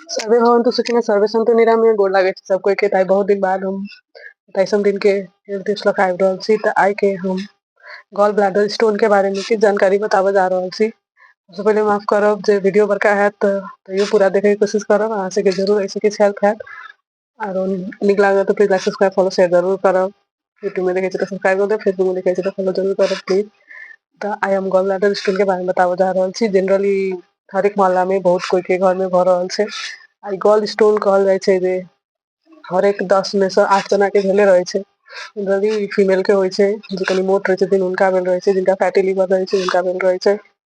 survey भवन तो सुखी सर्वे सन्त निराम गोर लागे छै सब कोई के ताई बहुत दिन बाद हम तैसन दिन के निर्देश लग आबि रहल छी तऽ आइ के हम गॉल ब्लैडर स्टोन के बारे में किछु जानकारी बताबऽ जा रहल छी सबसे पहले माफ करब जे वीडियो बड़का हैत तऽ तैयो पूरा देखे के कोशिश करब अहाँ सबके जरूर ऐसे किछु हेल्प हैत आरो नीक लागल तऽ प्लीज सब्सक्राइब फॉलो शेयर जरूर करब यूट्यूब में देखे छी तऽ सब्सक्राइब कर देब फेसबुक में देखे छी तऽ फॉलो जरूर करब प्लीज तऽ आई हम गॉल ब्लैडर स्टोन के बारे में बताबऽ जा रहल छी जनरली हर एक मामला में बहुत कोई के घर में भऽ रहल छै आई गॉल स्टोन कहल जाइ छै जे हर एक दस में से आठ जना के भेले रहे छै जनरली फीमेल के होइ छै जे कनि मोट रहे छथिन हुनका भेल रहे छै जिनका फैटी लीवर रहे छै हुनका भेल रहे छै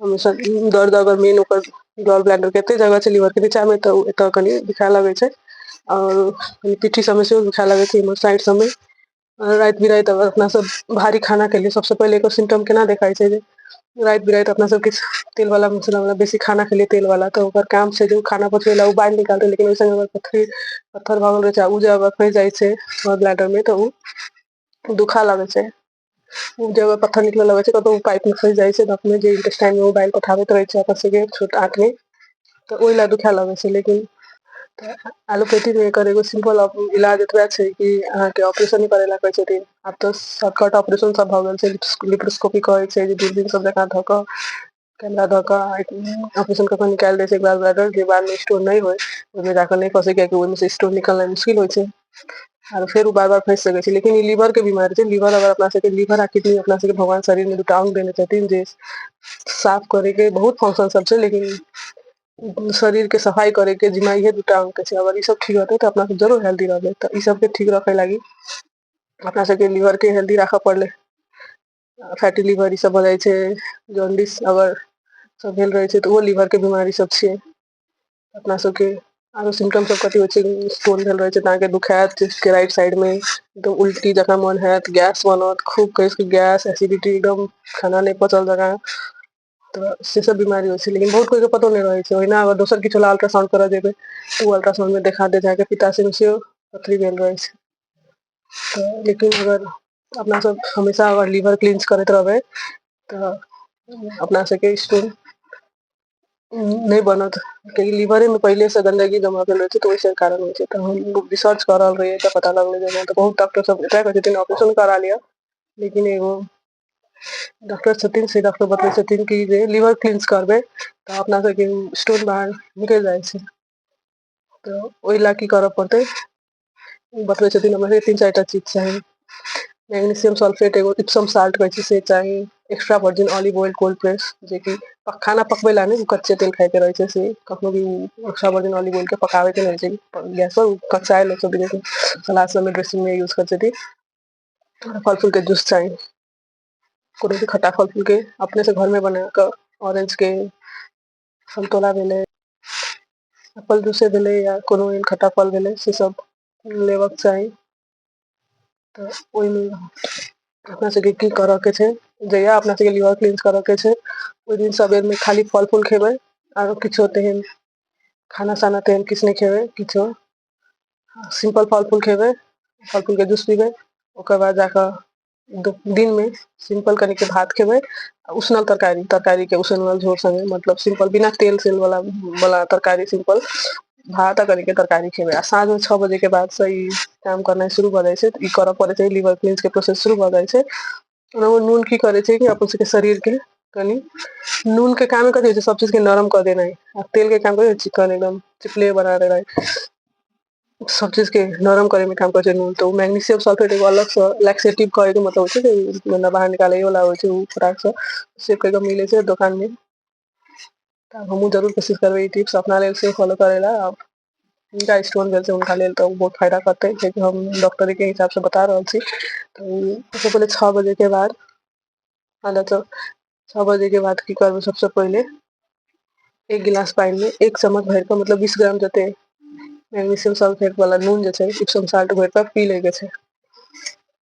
हमेशा दर्द अगर मेन ओकर गॉल ब्लैडर के एते जगह छै लीवर के नीचा में तऽ एतऽ कनि दुखाय लगै छै और कनि पीठी सब में सेहो दुखाय लगै छै एम्हर साइड सब में राति बिराति अगर अपना सब भारी खाना खेलियै सबसँ पहिले एकर सिम्टम केना देखाइ छै जे राति बिराति अपना सब किछु तेल वाला मसाला वाला बेसी खाना खेलियै तेल वाला तऽ ओकर काम छै जे ओ खाना पचबै ला ओ बाहर निकालतै लेकिन ओहि संगे अगर पथरी पत्थर भऽ गेल रहै छै आ ओ जे अगर फँसि जाइ छै गॉल ब्लैडर में तऽ ओ दुखा लगै छै जगह पत्थर निकल लगे छै कतहु पाइप मे फसि जाइ छै त अपने जे इंटेस्टाइन मे ओ बाइल पठाबैत रहै छै अपन सबके छोट आंतमे तऽ ओहि लए दुखए लगै छै लेकिन तऽ एलोपैथी मे एकर एगो सिम्पल इलाज एतबे छै कि अहाँके ऑपरेशन करै लए कहै छथिन आब तऽ शॉर्टकट ऑपरेशन सब भऽ गेल छै लिप्रोस्कोपी कहै छै जे दूरबीन सब जकाँ धऽ कऽ कैमरा धऽ कऽ आ ऑपरेशन कऽ के निकालि दै छै ग्लास ब्लैडर जे बादमे स्टोन नहि होय ओहिमे जा कऽ नहि फँसै कियाकि ओहिमे से स्टोन निकलनाइ मुश्किल होइ छै आर फेर ओ बार बार फँसि सकै छै लेकिन ई लीवरके बीमारी छै लीवर अगर अपना सबके लीवर आ किडनी अपना सबके भगवान शरीरमे दूटा अंग देने छथिन जे साफ करैके बहुत फंक्शन सब छै लेकिन शरीरके सफाइ करैके जिम्मा इहे दूटा अंगके छै अगर ई सब ठीक रहतै तऽ अपना सब जरूर हेल्दी रहबै तऽ ई सबके ठीक रखै लागी अपना सबके लीवरके हेल्दी राखऽ पड़लै फैटी लिवर ई सब भऽ जाइ छै जॉन्डिस अगर सब भेल रहै छै तऽ ओहो लीवर के बीमारी सब छियै अपना सबके आरो सिम्टम सब कथी होइ छै स्टोन भेल रहै छै तऽ अहाँके दुखायत चेस्ट के राइट साइड मे एकदम उल्टी जकाँ मोन होयत गैस बनत खूब कस के गैस एसिडिटी एकदम खाना नहि पचल जकाँ तऽ से सब बीमारी होइ छै लेकिन बहुत कोइ के पतो नहि रहै छै ओहिना अगर दोसर किछु लए अल्ट्रासाउंड करऽ जेबै तऽ ओ अल्ट्रासाउंड मे देखा दे जाके पिताशय मे सेहो पथरी भेल रहै छै तऽ लेकिन अगर अपना सब हमेशा अगर लीवर क्लींस करैत रहबै तऽ अपना सबके स्टोन नहि बनत कियाकि लीवरे मे पहिले से गंदगी जमा भेल रहै छै तऽ ओहि सब कारण होइ छै तऽ हम रिसर्च कऽ रहल रहियै तऽ पता लगलै जे एना तऽ बहुत डाक्टर सब एतऽ कहै छथिन ऑपरेशन करा लिअ लेकिन एगो डॉक्टर छथिन से डॉक्टर बतबै छथिन कि जे लीवर क्लिनस करबै तऽ अपना सबके स्टोन बाहर निकलि जाइ छै तऽ ओहि लए की करऽ पड़तै ओ बतबै छथिन हमर तीन चारि टा चीज चाही मैग्नीशियम सल्फेट एगो इप्सम साल्ट कहै छै से चाही extra virgin olive oil cold press जेकि खाना पकबै लए नहि कच्चे तेल खाइके रहै छै से कखनो भी एक्स्ट्रा वर्जिन ऑलिव ऑयल के पकाबैके रहै छै गैस पर कच्चा आयल सब सलाद सबमे ड्रेसिंग मे यूज करै छथिन फल फूल के जूस चाही कोनो भी खट्टा फल फूल के अपने से घर में बना कऽ ऑरेंज के संतोला भेलै एप्पल जूसे भेलै या कोनो एहन खट्टा फल भेलै से सब लेबक चाही तऽ ओहिमे अपना सबके की करऽ के छै जहिया अपना सबके लिवर क्लींस करऽ के छै ओहि दिन सबेर में खाली फल फूल खेबै आरो किछो तेहन खाना साना तेहन किछु नहि खेबै किछो सिंपल फल फूल खेबै फल फूलके जूस पीबै ओकर बाद जाकऽ दिनमे सिंपल कनिके भात खेबै आ उसनल तरकारी तरकारीके उसनल झोर सङ्गे मतलब सिंपल बिना तेल सेल वाला वाला तरकारी सिंपल भात आ कनिके तरकारी खेबै आ साँझमे छओ बजेके बादसँ ई काम करनाइ शुरू भऽ जाइ छै ई करऽ पड़ै छै लिवर क्लीन्सके प्रोसेस शुरू भऽ जाइ छै ओनाहु नून की करे छै कि अपन सबके शरीर के कनि नून के काम कथी होइ छै सब चीज के नरम कऽ देनाइ आ तेल के काम करै चिकन एकदम चिपले बना देनाइ सब चीज के नरम करे में काम करे छै नून तो मैग्नीशियम सल्फेट एगो अलग से लैक्सेटिव करे के मतलब होइ छै कि मतलब बाहर निकाले वाला होइ छै उ फटाक से से कहियो मिले छै दुकान में तऽ हमहूँ जरूर कोशिश करबै ई टिप्स अपना लेल से फॉलो करै लए आब जिनका स्टोन भेल छै हुनका लेल तऽ बहुत फायदा करतै कियाकि हम डॉक्टरके हिसाबसँ बता रहल छी तऽ सबसँ पहिले छओ बजेके बाद अहाँ तऽ छओ बजेके बाद की करबै सबसँ पहिले एक गिलास पानिमे एक चम्मच भरिकऽ मतलब बीस ग्राम जते मैग्नीशियम सल्फेट वाला नून जे छै इप्सम साल्ट भरिकऽ पी लैके छै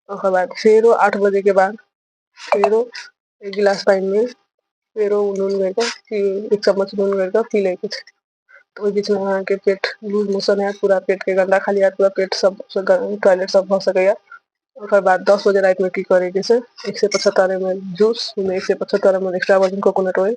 ओकर बाद फेरो आठ बजेके बाद फेरो एक गिलास पानि मे फेरो नून गायिर के एक चम्मच नून गायिर के पी लैके छै तऽ ओहि बीच मे अहाँ के पेट लूज मोशन हयत पूरा पेट के गन्दा खाली हयत पूरा पेट सब टॉयलेट सब भऽ सकैया ओकर बाद दस बजे राति मे की करे के छै एक सए पचहत्तर एम एल जूस एक सए पचहत्तर M L extra virgin coconut oil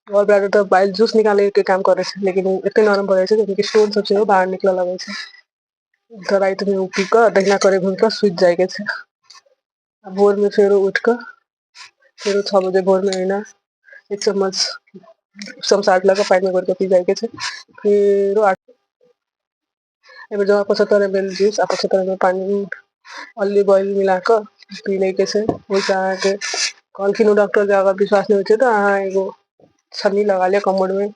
आओर ब तऽ ब जूस निकालै के काम करै छै लेकिन ओ एते नरम भऽ जाइ छै स्टोन सब सेहो बाहर निकलऽ लगै छै त राति मे ओ पी कऽ दहिना करे घुम कऽ सुति जाय के छै आ भोर मे फेरो उठ कऽ फेरो छओ बजे भोर मे एहिना एक चम्मच समस लऽ कऽ पानि मे घोर कऽ पी जाय के छै फेरो एहिमे जब आपस तरे भेल जूस आपस तर मे पानि अल्ली बल मिल कऽ पी लै के छै ओहिसँ अहाँके कहलखिन ओ डॉक्टर के अगर विश्वास नहि होइ छै तऽ अहाँ एगो छलनी लगा ले कमर मे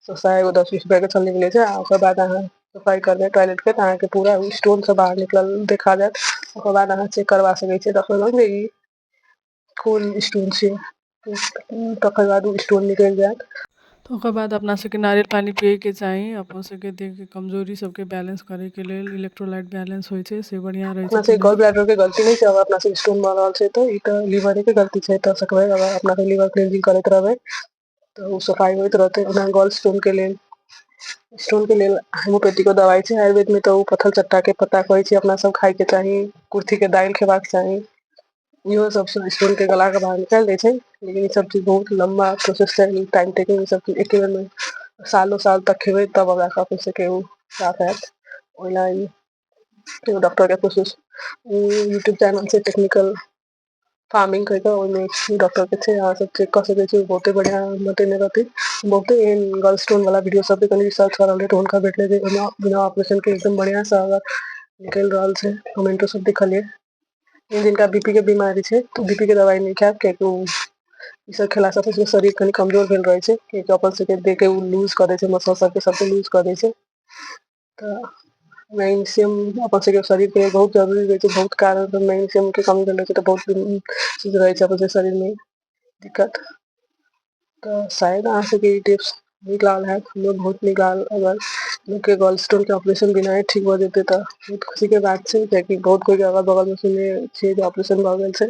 सस्ता एगो दस बीस रुपआ के छलनी मिलै छै आ ओकर बाद अहाँ सफाइ करबै टॉयलेट के तऽ अहाँके पूरा स्टोन सब बाहर निकलल देखा जायत ओकर बाद अहाँ चेक करबा सकै छियै डॉक्टर लग जे ई खोल स्टोन से तकर बाद ओ स्टोन निकलि जायत तऽ ओकर बाद अपना सबके नारियल पानी पियैके चाही अपन सबके देहके कमजोरी सबके बैलेंस करैके लेल इलेक्ट्रोलाइट बैलेंस होइ छै से बढ़िआँ रहै अपना छै सबके गॉल ब्लैडर के गलती नहि छै अगर अपना सबके स्टोन भऽ रहल छै तऽ ई तऽ लीवरे के गलती छै तऽ सकबै अगर अपना सब लीवर क्लींजिंग करैत रहबै तऽ ओ सफाइ होइत रहतै ओना गोल्ड स्टोन के लेल स्टोन के लेल होेम्योपेथी के दवाइ छै आयुर्वेद मे तऽ ओ पथल चट्टा के पता कहै छै अपना सब खाय के चाही कुर्थी के दालि खेबाक चाही इहो सब स स्टोन के गला के बाहर निकालि दै छै लेकिन ई सब चीज बहुत लम्बा प्रोसेस छै ई टाइम टेकिंग ई सब चीज एके बेर मे सालो साल तक खेबै तब ओकरा स अपने सबके उ साफ हैत ओहिना इ एगो डाक्टर के कोशिश उ यूट्यूब चैनल छै टेक्निकल फार्मिंग कर के ओहिमे डॉक्टर के छै अहाँ सब चेक क सके छी बहुते बढ़िया बतेने रहथि बहुते एहन गल स्टोन वाला वीडियो सब कनी रिसर्च करल रहे त हुनका भेटले जे बिना बिना ऑपरेशन के एकदम बढ़िया से अगर निकलि रहल छै कमेंटो सब देखलियै जिनका बी पी के बीमारी छै तऽ बी पी के दवाइ नहि खायब कियाकि ओ ई सब खेला सब से शरीर कनि कमजोर भेल रहे छै कियाकि अपन सबके देह के ओ लूज कऽ दै छै मसल सब के सबके लूज कऽ दै छै तऽ मैग्नेशियम अपन सबके शरीर के बहुत जरूरी रहै छै बहुत कारण स मैग्नेशियम के कमी भेल रहै छै तऽ बहुत चीज रहै छै अपन सबके शरीर मे दिक्कत तऽ शायद अहाँ सबके ई टिप्स नीक लागल हैत हमरो बहुत नीक लागल अगर लोग के गल स्टोन के ऑपरेशन बिनाय ठीक भऽ जेतै तऽ बहुत खुशी के बात छै कियाकि बहुत कोइ के अगल बगल मे सुनने छियै जे ऑपरेशन भऽ गेल छै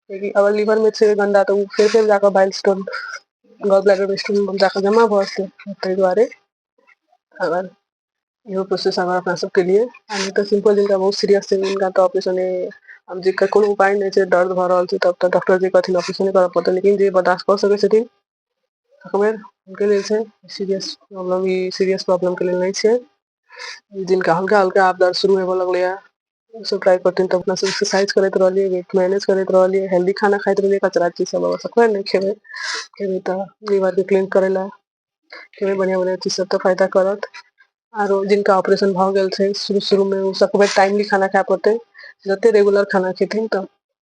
कियाकि अगर लीवर में छै गंदा तऽ ओ फेर फेर जाकऽ bile stone gall bladder stone में जाकऽ जमा भऽ जेतै ताहि दुआरे अगर इहो प्रोसेस अगर अपना सबके लिए आ नहि तऽ सिंपल जिनका बहुत सीरियस छै हुनका तऽ ऑपरेशन आब जे कोनो उपाय नहि छै दर्द भऽ रहल छै तब तऽ डॉक्टर जे कहथिन ऑपरेशन करऽ पड़तै लेकिन जे बर्दाश्त कऽ सकै छथिन तकबेर हुनके लेल छै सीरियस प्रॉब्लम ई सीरियस प्रॉब्लमके लेल नहि छै जिनका हल्का हल्का आब दर्द शुरू होबय लगलै ह ओ सब ट्राई करथिन त अपना सब एक्सरसाइज करैत रहलियै वेट मैनेज करैत रहलियै हेल्दी खाना खाइत रहलियै कचरा चीज सब बाबा सब नहि खेबै खेबै तऽ लीवर के क्लीन करै लए खेबै बढ़िआँ बढ़िआँ चीज सब तऽ फायदा करत आरो जिनका ऑपरेशन भऽ गेल छै शुरू शुरूमे ओ सबके टाइमली खाना खाय पड़तै जते रेगुलर खाना खेथिन तऽ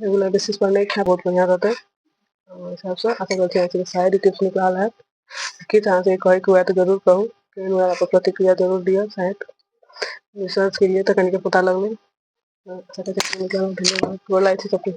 रेगुलर बेसिस पर नहि खाय बहुत बढ़िआँ रहतै ओहि हिसाबसँ आशा करै छी अहाँके साइड इफेक्ट निकलल हैत किछु अहाँके कहैके हुए तऽ जरूर कहू कहीं हुए अपन प्रतिक्रिया जरूर दिअ साइड रिसर्च केलियै तऽ कनिके पता लगलै धन्यवाद गोर लागै छी सभके